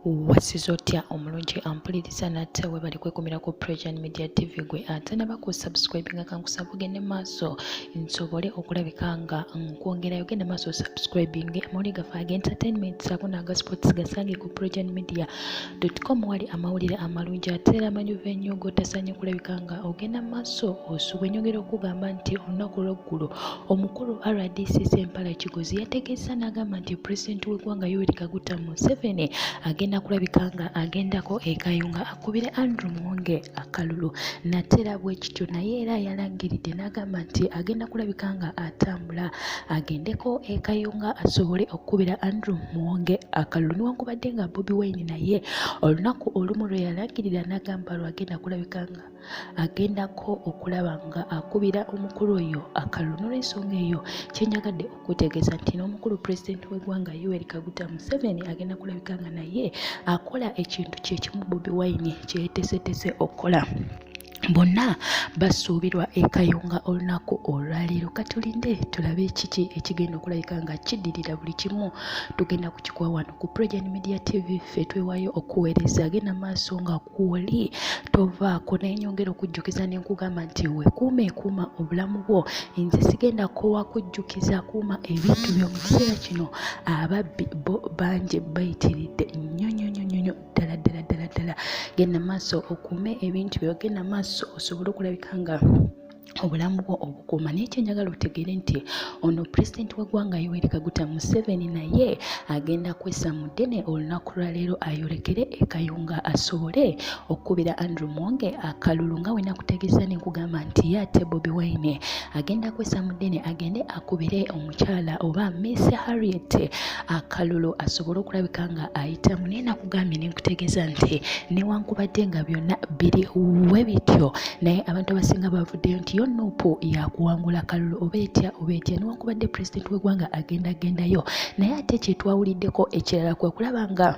wasiza otya omulungi ampuliriza nate webali kwekumira ku presian media tv gwe ate naba ku subscribinga kankusaba ogende maaso nsobole okulabika nga nkwongerayo gende maaso subscribing amawuli gafe aga entertainment saako naga sports gasange ku presian media com wali amawulire amalungi ate era amanyuva ennyo gotasanye okulabika nga ogenda maaso osuba enyongera okugamba nti olunaku lweggulo Omukulu RDC Sempala Kigozi yategeezza n'agamba nti pulezidenti w'eggwanga Yoweri Kaguta Museveni agenda kulabika nga agendako e Kayunga akubire Andrew Mwonge akalulu nateera bwe kityo naye era yalangiridde n'agamba nti agenda kulabika nga atambula agendeko e Kayunga asobole okukubira Andrew Mwonge akalulu newankubadde nga Bobi Wine naye olunaku olumu lwe yalangirira n'agamba lwagenda kulabika nga agendako okulaba nga akubira omukulu oyo akalulu nolwensonga eyo kyenjagadde okutegeeza nti n'omukulu pulezidenti w'eggwanga yoweri kaguta museveni agenda kulabika nga naye akola ekintu kyekimu bobi wine kyeyetesetese okukola bonna basuubirwa ekayunga olunaku olwaleero katulinde tulabe kiki ekigenda okulabika nga kiddirira buli kimu tugenda kukikuwa wano ku progen media tv fe twewayo okuweereza agenda maaso nga woli tovaako naye nyongera okujjukiza ne nkugamba nti wekuuma ekuuma obulamu bwo nze sigenda kowa kujjukiza kuuma ebintu byo mu kiseera kino ababbi bo bangi bayitiridde nnyo nnyo nnyo nnyo nnyo ddala ddala ddala ddala genda maaso okuume ebintu byo genda maaso osobole okulabika nga obulamu bwo obukuuma naye kyenjagala otegeere nti ono pulezidenti w'eggwanga yoweri kaguta museveni naye agenda kwesa mu ddene olunaku lwaleero ayolekere ekayunga asobole okukubira andrew mwonge akalulu nga wena kutegeeza nenkugamba nti ye ate bobi wine agenda kwesa mu ddene agende akubire omukyala oba miss harriet akalulu asobole okulabika nga ayitamu naye nkugambye ne nkutegeeza nti newankubadde nga byonna biri we bityo naye abantu abasinga bavuddeyo nti yo nuupu yakuwangula kalulu oba etya oba etya newankubadde pulezidenti w'eggwanga agenda agendayo naye ate kyetwawuliddeko ekirala kwe kulaba nga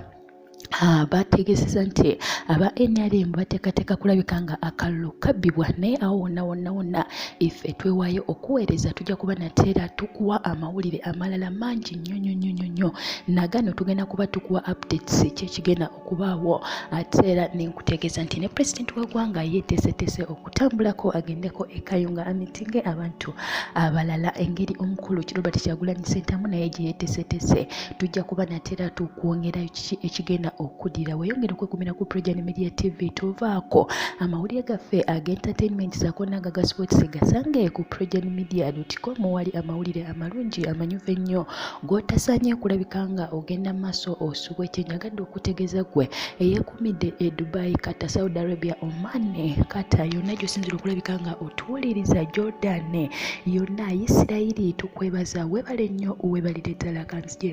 Ah, bategeeseza nti aba nrm bateekateeka kulabika nga akalulu kabbibwa naye awo wonna wonna wonna ife twewaayo okuweereza tujja kuba nateera tukuwa amawulire amalala mangi nyo nyo nyo nyo nyo nagano tugenda kuba tukuwa updates kyekigenda okubaawo ate era nenkutegeeza nti ne president wegwanga yetesetese okutambulako agendeko ekayunga amitinge abantu abalala engeri omukulu kirobert kyagulanyi sentamu naye gyeyetesetese tujja kuba natera tukwongerayo kiki ekigenda okudira weyongere okwekumira ku projan media tv tovaako amawulire gaffe agentertainment saako nagaga sports gasange ku projan media com wali amawulire amalungi amanyuvu ennyo g'otasaanye kulabika nga ogenda mu maaso osubwe kye njagadde okutegeeza ggwe eyeekuumidde e dubai kata saudi arabia oman kata yonna gy'osinzira okulabika nga otuwuliriza jordan yonna isirayiri tukwebaza weebale nnyo weebalire ddala kanzigye